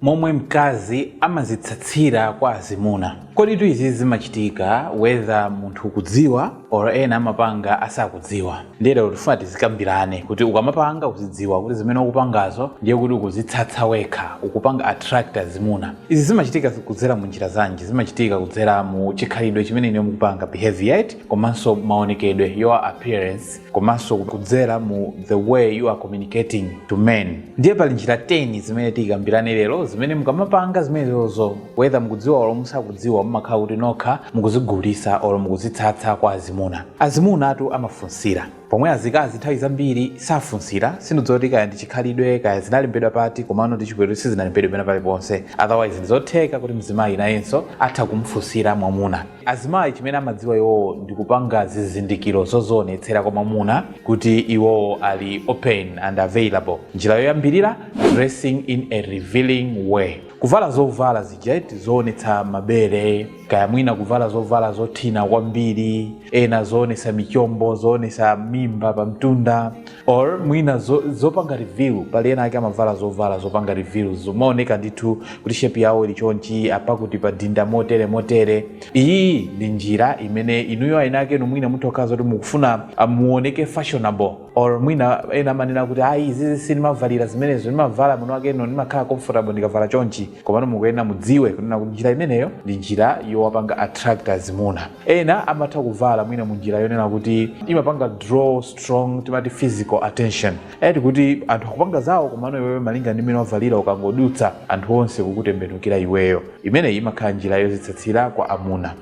momwe mkazi amazitsatsira kwa azimuna koditu izizi zimachitika whether munthu ukudziwa or ena amapanga asakudziwa ndiye lero tifuna tizikambirane kuti ukamapanga uzidziwa kuti zimene ukupangazo ndiye kuti ukuzitsatsa wekha ukupanga attract azimuna izi zimachitika kudzera mu njira zanji zimachitika kudzera mu chikhalidwe chimene inuyo mukupanga behavior eti komanso maonekedwe your appearance komanso kudzera mu the way you are communicating to men ndiye pali njira 10 zimene tikambirane lero zimene mukamapanga zimenezozo whether mukudziwa olo musakudziwa mumakhala kuti nokha mukuzigulisa olo mukuzitsatsa kwa azimuna azimunatu amafunsira pomwe azikazi nthawi zambiri safunsira sindidziwa kuti kaya ndi chikhalidwe kaya zinalembedwa pati komano ndi chibwero sizinalembedwe pena paliponse otherwise ndizotheka kuti mzimayi nayenso atha kumfunsira mwamuna Azimayi chimene amadziwa iwowo ndikupanga zizindikiro zozionetsera kwa mwamuna kuti iwowo ali open and available. Njira yoyambirira, dressing in a revealing way. Kuvala zovala zija eti zoonetsa mabere, kaya mwina kuvala zovala zothina kwambiri, ena zoonetsa michombo, zoonetsa mimba pamtunda, or mwina zo, zopanga reveal pali ena ake amavala zovala zopanga reveal zomaoneka ndithu kuti shape yawo ili chonchi apakuti padinda motere motere iyi ndi njira imene inuyo ena akenu mwina mutha kukhala zoti mukufuna ah, muoneke fashionable or mwina ena amanena kuti ayi izizi sindimavalira zimenezo ndimavala mwinakeno ndimakhala comfortable ndikavala chonchi komano mukuyenera mudziwe kunena kuti njira imeneyo ndi njira yowapanga attract azimuna ena amatha kuvala mwina mu njira yonena kuti imapanga draw strong timati physical attention eti kuti anthu akupanga zawo komano iweyo malinga ndi mmene wavalira ukangodutsa anthu onse kukutembenukira iweyo imeneyi imakhala njira yozitsatsira kwa amuna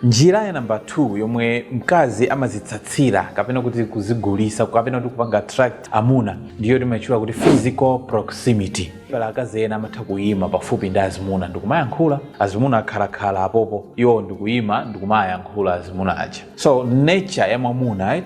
njira ya namba 2 yomwe mkazi amazitsatsira kapena kuti kuzigulisa kapena kuti kupanga attract amuna ndiyo timaitchula kuti physical proximity pali akazi ena amatha kuyima pafupi ndi azimuna ndikumayankhula azimuna akhalakhala apopo iwo ndikuyima ndikumayankhula azimuna aja so nature ya mwamuna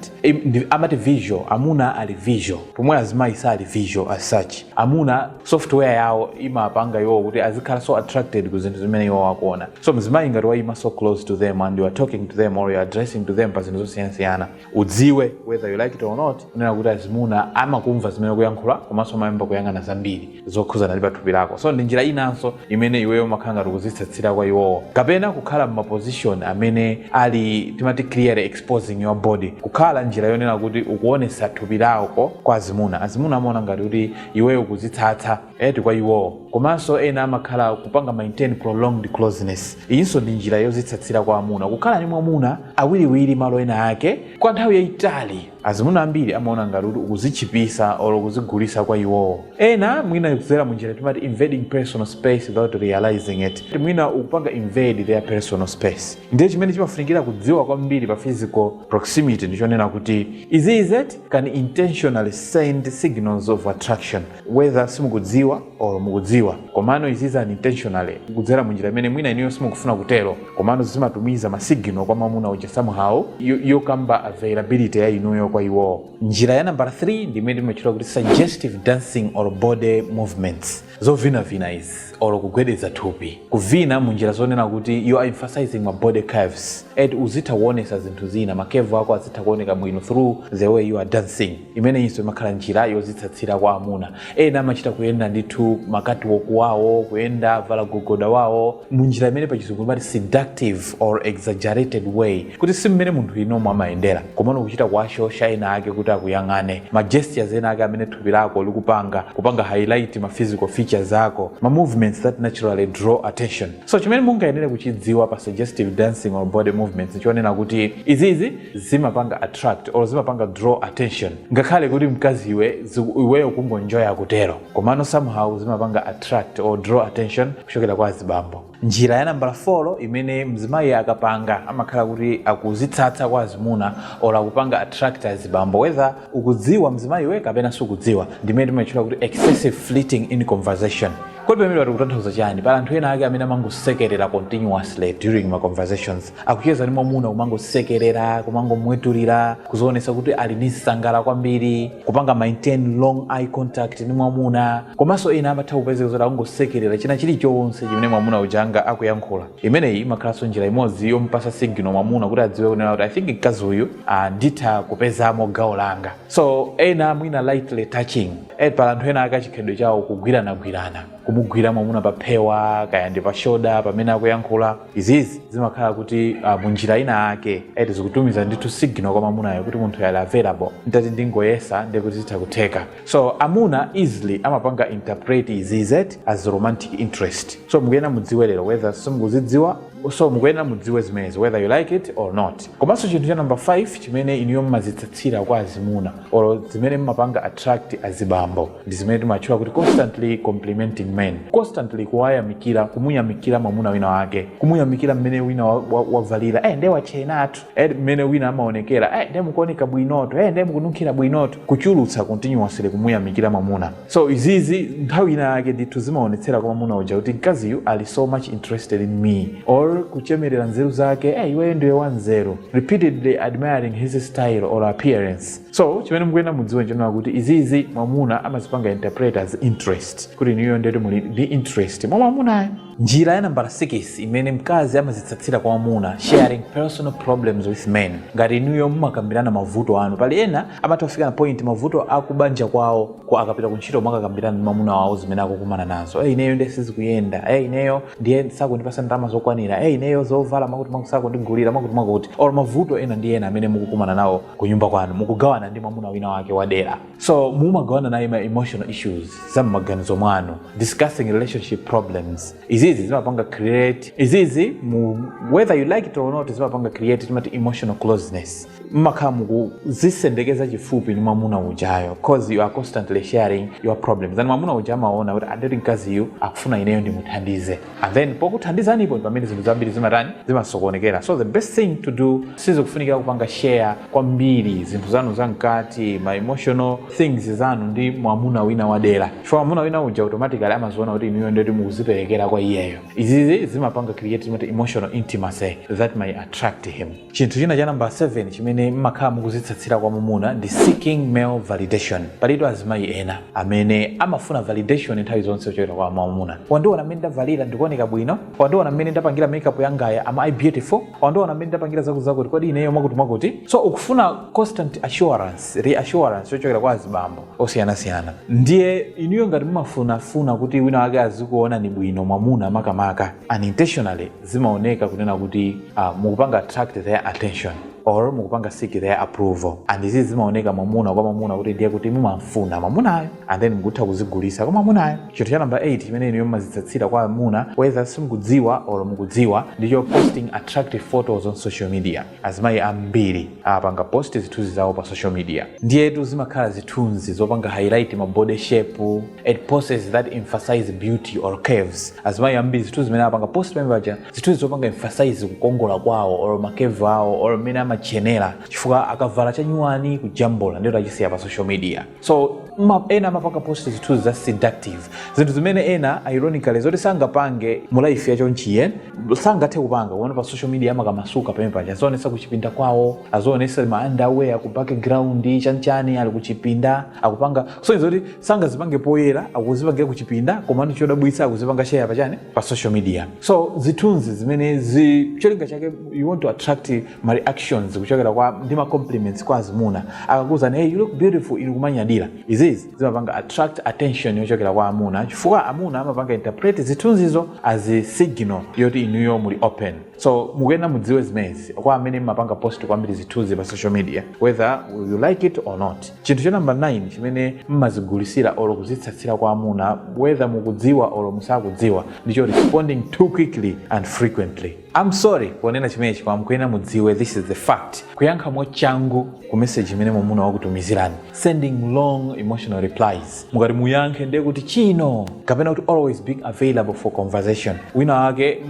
amati visual amuna ali visual pomwe azimayi sali visual as such amuna software yawo imapanga iwo kuti azikhala so attracted ku zinthu zimene iwo akuona so mzimayi ngati wayima so close to them and you are talking to them or you are addressing to them pa zinthu zosiyanasiyana udziwe whether you like it or not kunena kuti azimuna amakumva zimene ukuyankhula komanso amayamba kuyang'ana zambiri zokhuzana ndi pathupi lako so ndi njira inanso imene iweyo umakhala ngati ukuzitsatsira kwa iwowo kapena kukhala m'maposition amene ali timati clearly exposing your body kukhala njira yonena kuti ukuonesa thupi lako kwa azimuna azimuna amaona ngati kuti iweyo ukuzitsatsa eti kwa iwowo komanso ena amakhala kupanga maintain prolonged closeness iyinso ndi njira yozitsatsira kwa amuna kukhala ndi mwamuna awiriwiri malo ena ake kwa nthawi yayitali azimuna ambiri amaona ngati kuti ukuzitchipisa or kuzigulisa kwa iwowo ena mwina kudzera mu njira timati invading personal space without realizing it Kuti mwina ukupanga invade their personal space ndiye chimene chimafunikira kudziwa kwambiri pa physical proximity ndichonena kuti izi can intentionally send signals of attraction whether simukudziwa or mukudziwa komano izi unintentionally kudzera mu njira imene mwina inuyo simukufuna kutero komano zimatumiza masigino kwa mamuna uja somehow yo- yokamba availability ya inuyo kwa iwowo njira ya nambala 3 ndi imene timatchula kuti suggestive dancing or body movements zovinavina izi or kugwedeza thupi kuvina mu njira zonena kuti you are emphasizing ma body curves and uzitha kuonesa zinthu zina makevu ako azitha kuoneka bwino through the way you are dancing imeneyinso imakhala njira yozitsatsira kwa amuna ena amachita kuyenda ndithu makatiwoku wawo kuyenda wavala gogoda wawo munjira imene pachizungu imati seductive or exaggerated way kuti si mmene munthu iwe umo amayendera komano kuchita kuwashosha ena ake kuti akuyang'ane ma gestures ena ake amene thupi lako likupanga kupanga highlight ma physical features ako ma movements that naturally draw attention so chimene mukuyenera kuchidziwa pa suggestive dancing or body movements chonena kuti izizi zimapanga attract or zimapanga draw attention ngakhale kuti mkazi iwe ziku- iweyo kungonjoya kutero komano somehow zimapanga attract or draw attention kuchokera kwa azibambo njira ya nambala 4 imene mzimayi akapanga amakhala kuti akuzitsatsa kwa azimuna or akupanga attract azibambo whether ukudziwa mzimayiwe kapena sukudziwa ndimene timatchula kuti excessive flirting in conversation kodi pamenepa tikutanthauza chani pali anthu ena ake amene amangosekerera continuously during ma conversations akucheza ndi mwamuna kumangosekerera kumangomwetulira kuzionesa kuti ali ndi msangala kwambiri kupanga maintain long eye contact ndi mwamuna komanso ena amatha kupezeka zoti akungosekerera china chilichonse chimene mwamuna uja angakuyankhula imeneyi imakhalanso njira imodzi yomupasa signal mwamuna kuti adziwe kunena kuti i think mkazi uyu ah, nditha kupezamo gawo langa so ena mwina lightly touching eh, pali anthu ena ake chikhalidwe chawo kugwiranagwirana kumugwira mwamuna pa phewa kaya ndi pa shoda pamene akuyankhula izizi zimakhala kuti uh, munjira ina ake eti zikutumiza ndithu signal kwa mamunayo kuti munthuyu ali available nditati ndingoyesa ndiye kuti zitha kutheka so amuna easily amapanga interpret izizi as romantic interest so mukuyenera mudziwe lero whether simukuzidziwa so mukuyenera mudziwe zimenezi whether you like it or not komanso chinthu cha number 5 chimene inuyo mmazitsatsira kwa azimuna or zimene mmapanga attract azibambo ndi zimene timatchula kuti constantly complimenting men constantly kuwayamikira kumuyamikira mwamuna wina wake kumuyamikira mmene wina wavalira wa, wa eh, nde watchenatu eh, mmene wina amaonekera eh, nde mukuoneka bwinoto eh, nde mukununkhira bwinoto kuchulutsa continuously kumuyamikira mwamuna so izizi nthawi ina yake ndithu zimaonetsera kwa mwamuna uja kuti mkaziyu ali so much interested in me or kuchemerera nzeru zake eh, iweyo ndiwe wanzeru repeatedly admiring his style or appearance so chimene mukuyenera mudziwe nchonena kuti izizi mwamuna amazipanga interpret as interest kuti inuyo ndeti muli ndi interest mwa mwamunayo njira ya nambala 6 imene mkazi amazitsatsira kwa mwamuna sharing personal problems with men ngati inuyo mumakambirana mavuto anu pali ena amatha kufika na point mavuto akubanja kwawo akapita ku ntchito mwakakambirana ndi mwamuna wawo zimene akukumana nazo e ineyo ndiye sizikuyenda e ineyo ndiye sakundipasa ndalama zokwanira e ineyo zovala mwakuti mwakuti sakundigulira mwakuti mwakuti or mavuto ena ndi ena amene mukukumana nawo kunyumba kwanu mukugawana ndi mwamuna wina wake wadera so mumagawana naye ma emotional issues za mmaganizo mwanu discussing relationship problems izizi zimapanga create izizi mu whether you like it or not zimapanga create timati emotional closeness mmakhala mukuzisendekeza chifupi ndi mwamuna ujayo cause you are constantly sharing your problems and mwamuna uja amaona kuti ndeti mkaziyu akufuna ineyo ndimuthandize and then pokuthandizanipo pamene zinthu zambiri zimatani zimasokonekera so the best thing to do sizikufunikira kupanga share kwambiri zinthu zanu zamkati ma emotional things zanu ndi mwamuna wina wadera chifukwa mwamuna wina uja automatically amaziona kuti inuyo ndeti mukuziperekera kwa iyeyo izizi zimapanga create timati emotional intimacy that may attract him Chinthu china cha nambala 7 chimene mmakhala mukuzitsatsira kwa mamuna ndi seeking male validation. Palitu azimayi ena amene amafuna validation nthawi zonse kuchokera kwa mwamuna. Wandiona mmene ndavalira ndikuoneka bwino? Wandiona mmene ndapangira makeup yangayi am I beautiful? Wandiona mmene ndapangira zakuzakuti kodi ineyo mwakutimwakuti? So ukufuna constant assurance, reassurance yochokera kwa azibambo osiyanasiyana. Ndiye inuyo ngati mumafunafuna kuti wina wake azikuonani bwino mwamuna makamaka unintentionally, zimaoneka kunena kuti uh, mukupanga attract their attention or mukupanga seek their approval and izi zimaoneka mwamuna kwa mwamuna kuti ndiye kuti mumamfuna mwamunayo and then mukutha kuzigulisa kwa mwamunayo chinthu cha namba 8 chimene inuyo mmazitsatsira kwa mamuna whether simukudziwa or mukudziwa ndicho posting attractive photos on social media azimayi ambiri apanga post zithunzi zawo pa social media ndiyetu zimakhala zithunzi zopanga highlight ma body shape and poses that emphasize beauty or curves azimayi ambiri zithunzi zimene apanga post pamene paja zithunzi zopanga emphasize kukongola kwawo or makevu awo or mmene amatchenera chifukwa akavala chanyuwani kujambula ndiyetu achisiya pa social media so ma, ena amapanga post zithunzi za seductive zinthu zimene ena ironically zoti sangapange mu life ya ku church sangathe kupanga koma pa social media amakamasuka pamene paja azionetsa kuchipinda kwawo azionetsa ma underwear ku background chanchani ali kuchipinda akupanga so zoti sangazipange poyera akuzipangira kuchipinda komano chodabwitsa akuzipanga share pachani pa social media so zithunzi zimenezi cholinga chake you want to attract ma reactions kuchokera kwa ndi ma compliments kwa azimuna akakuuzani hey you look beautiful inu kumanyadira izizi zimapanga attract attention yochokera kwa amuna chifukwa amuna amapanga interpret zithunzizo as a signal yoti inuyo muli open so mukuyenera mudziwe zimenezi kwa amene mumapanga post kwambiri zithunzi pa social media whether you like it or not chinthu cha number 9 chimene mmazigulitsira or kuzitsatsira kwa amuna whether mukudziwa or musakudziwa ndicho responding too quickly and frequently Am sorry ponena chimenechi koma mukuyenera mudziwe this is the fact. Kuyankha mwachangu ku message imene mwamuna wakutumizirani, sending long emotional replies, mukati muyankhe ndiye kuti chino kapena kuti always being available for conversation. Wina wake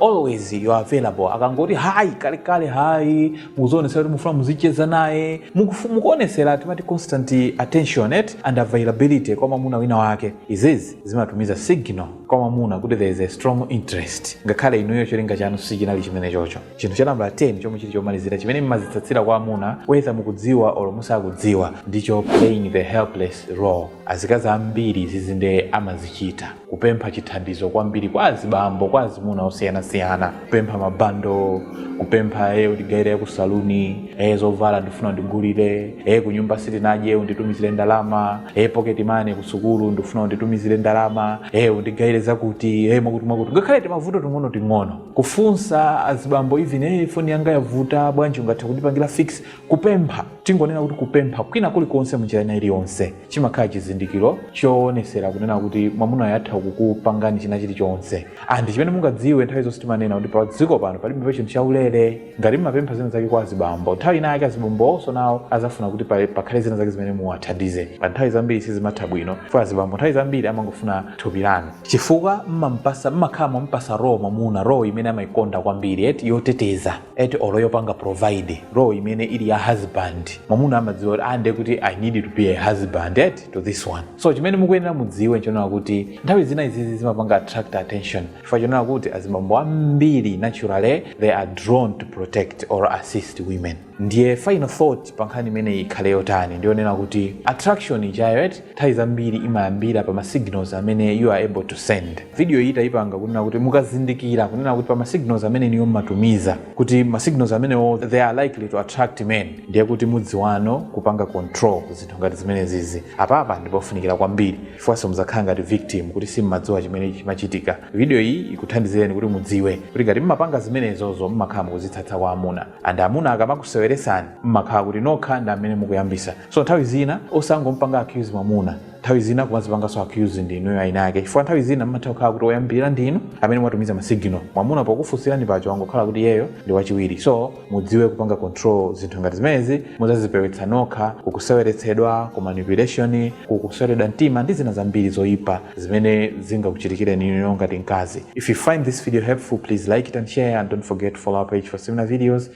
always you are available, akangoti hi kalekale hi, mukuonetsa kuti mufuna muzicheza naye, mukuonetsera timati constant attention and availability kwa mwamuna wina wake izizi zimatumiza signal kwa mwamuna kuti there is a strong interest ngakhale inuyo cholinga chanu sichinali chimenecho chinthu cha nambala 10 chomwe chili chomalizira chimene mumazitsatsira kwa amuna whether mukudziwa or musakudziwa ndicho playing the helpless role azikazi ambiri izizi nde amazichita kupempha chithandizo kwambiri kwa azibambo kwa azimuna osiyanasiyana kupempha ma bundle kupempha e undigayire ya ku salon e zovala ndifuna undigulire e kunyumba sitinadye unditumizire ndalama e pocket money kusukulu ndifuna unditumizire ndalama e undigayire zakuti e mwakuti mwakuti ngakhale timavuto ting'ono ting'ono kufunsa azibambo even e foni yanga yavuta bwanji ungathe kundipangira fix kupempha tingonena kuti kupempha kwina kulikonse munjira ina iliyonse chimakhala chizindikiro choonetsera kunena kuti mwamunayo atha kukupangani china chilichonse and chimene mungadziwe nthawi zonse timanena kuti pa dziko pano palibe pa chinthu chaulere ngati mumapempha zina zake kwa azibambo nthawi ina yake azibambowonso nawo azafuna kuti pa- pakhale zina zake zimene muwathandize and nthawi zambiri sizimatha bwino kwa azibambo nthawi zambiri amangofuna thupi lanu chifukwa mmampatsa mmakhala mwampatsa role mwamuna role imene amaikonda kwambiri eti yoteteza eti or yopanga provide role imene ili ya husband mwamuna amadziwa kuti aa nde kuti i need to be a husband eti to this one so chimene mukuyenera mudziwe nchonena kuti nthawi zina izizi zimapanga attract attention chifukwa chonena kuti azibambo ambiri naturally they are drawn to protect or assist women ndiye final thought pa nkhani imeneyi ikhale yotani ndiyonena kuti attraction ijayo eti nthawi zambiri imayambira pa ma signals amene you are able to send video iyi tayipanga kunena kuti mukazindikira kunena kuti pa ma signals amene inuyo mmatumiza kuti ma signals amenewo they are likely to attract men ndiye kuti mudziwe no kupanga control zinthu ngati zimenezizi apapa ndipofunikira kwambiri chifukwanso muzakhala ngati victim kuti simmadziwa chimene chimachitika video iyi ikuthandizireni kuti mudziwe kuti ngati mmapanga zimenezozo mmakhala mukuzitsatsa kwa amuna and amuna akamakuseweresani mmakhala kuti nokha ndi amene mukuyambisa so nthawi zina osangompanga accuse mwamuna nthawi zina kumazipanganso accuse ndi inuyo eni ake chifukwa nthawi zina mmatha kukhala kuti oyambirira ndi inu amene mwatumiza masignal mwamuna pokufunsirani pacho wangokhala kuti iyeyo ndi wachiwiri so mudziwe kupanga control zinthu ngati zimenezi muzazipewetsa nokha kukuseweretsedwa ku manipulation kukusweredwa mtima ndi zina zambiri zoyipa zimene zingakuchitikireni inuyo ngati mkazi if you find this video helpful please like it and share and don't forget to follow our page for similar videos